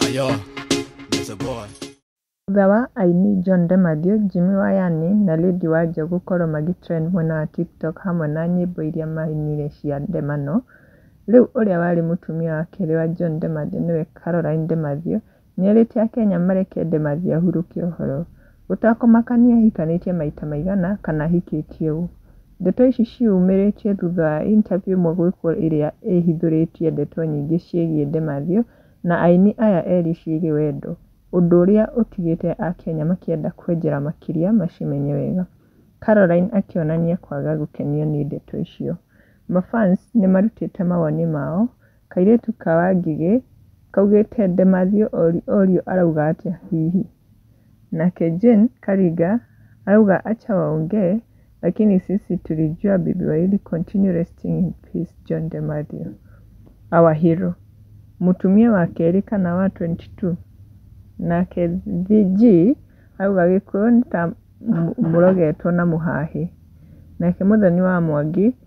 Ayo, there's a boy. Thutha wa aini John de Mathew, Jimmy wa Yani na Lady Wanja gũkorwo magĩtrend mwena wa TikTok hamwe na nyĩmbo iria mainire cia ndemano, rĩu ũrĩa warĩ mũtumia wa kerĩ wa John de Mathew nĩwe Caroline de Mathew, Nĩerĩte Akenya mareke Demazi ahurũke ũhoro. Gũtakũmakania ahikanĩtie maita maigana kana ahikĩtie ũũ. Ndeto ici ciĩyumĩrĩtie thutha wa interview ĩmwe gwĩkwo ĩrĩa ĩhithũrĩtie ndeto nyingĩ ciĩgiĩ Demazi na aini aya erĩ ciĩgiĩ wendo, ũndũ ũrĩa ũtigĩte Akenya makĩenda kwenjera makĩria macimenye wega. Caroline akĩonania kwaga gũkenio nĩ ndeto icio. Mafans nĩmarutĩte mawoni mao Kairĩtu ka Wangigĩ kaugĩte Ndemathio Orio Orio arauga atĩa hihi? Nake Jane Karinga arauga Acha waongee lakini sisi tulijua bibi wa Eli continue resting in peace John Ndemathio our hero mũtumia wa kerĩ kana wa 22 nake VG arauga Gĩkũyũ nĩ ta mũrogetwo na mũhahe nake Mũthoni wa Mwangi